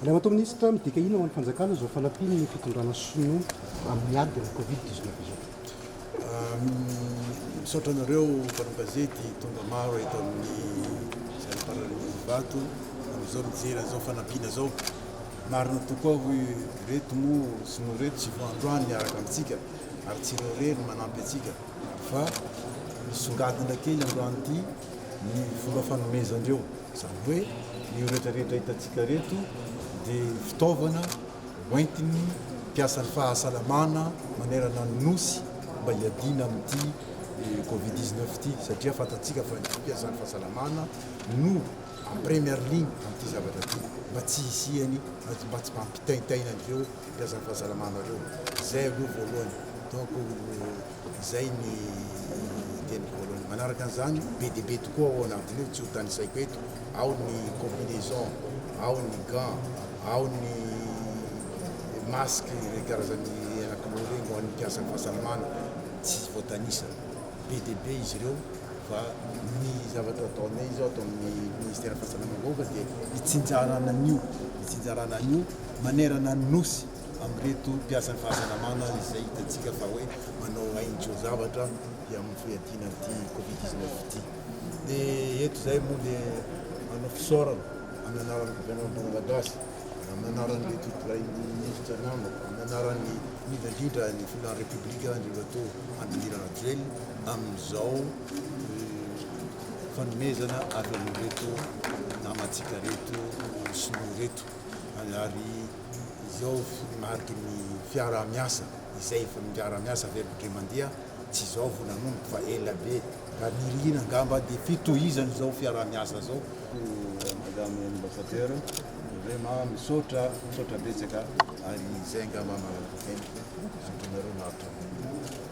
Andriamatoa Minisitra, midika inona ho an'ny Fanjakana izao fanampian'ny fitondrana Sinoa amin'ny ady ny Covid dix neuf izao? Misaotra anareo mpanao gazety tonga maro eto amin'ny Zaridain'Ivato amin'izao mijery an'izao fanampiana izao. Marina tokoa hoy ireto moa sinoa ireto tsy vao androany miaraka amintsika ary tsy ireo irery no manampy antsika fa nisongadina kely androany ity ny fomba fanomezandreo izany hoe io rehetra rehetra hitantsika reto dia fitaovana hoentiny mpiasan'ny fahasalamana manerana ny nosy mba hiadiana amin'ity covid 19 ity satria fantantsika fa ny mpiasan'ny fahasalamana no première ligne amin'ity zavatra ity mba tsy hisiany mba tsy hampitaintaina an'ireo mpiasa fahasalamana ireo. Izay aloha voalohany. Donc izay ny teniko voalohany. Manaraka an'izany, be dia be tokoa ao anatin'io, tsy hotanisaiko eto, ao ny combinaison, ao ny gants, ao ny masques ireny karazany anankiroa ireny ho an'ny mpiasa fahasalamana, tsy voatanisa. Be dia be izy ireo. Fa ny zavatra ataonay izao ato amin'ny Ministera Fahasalamam-bahoaka dia itsinjarana an'io, itsinjarana an'io manerana ny Nosy amin'ireto mpiasan'ny fahasalamana izay hitantsika fa hoe manao hain-tsoa-zavatra ety amin'ny fiadiana an'ity Covid dix neuf ity. Dia eto izay moa dia manao fisaorana amin'ny anaran'ny Governemanta Malagasy. Amin'ny anaran'ny Letotolay ny Minisitra namako, amin'ny anaran'ny indrindra indrindra ny Filohan'ny Repoblika Andriamatoa Andry Rajoelina amin'izao fanomezana avy amin'ireto namantsika ireto Sinoa ireto ary izao mariky ny fiaraha-miasa izay efa miara-miasa avy hain-kodre mandeha Tsy izao vao nanomboka fa ela be. Raha ny iriana angamba dia fitohizana izao fiaraha-miasa izao. Koa Madame Ambassadeur, vraiment misaotra, misaotra betsaka ary izay angamba mahalala tena azonareo maharitra kokoa.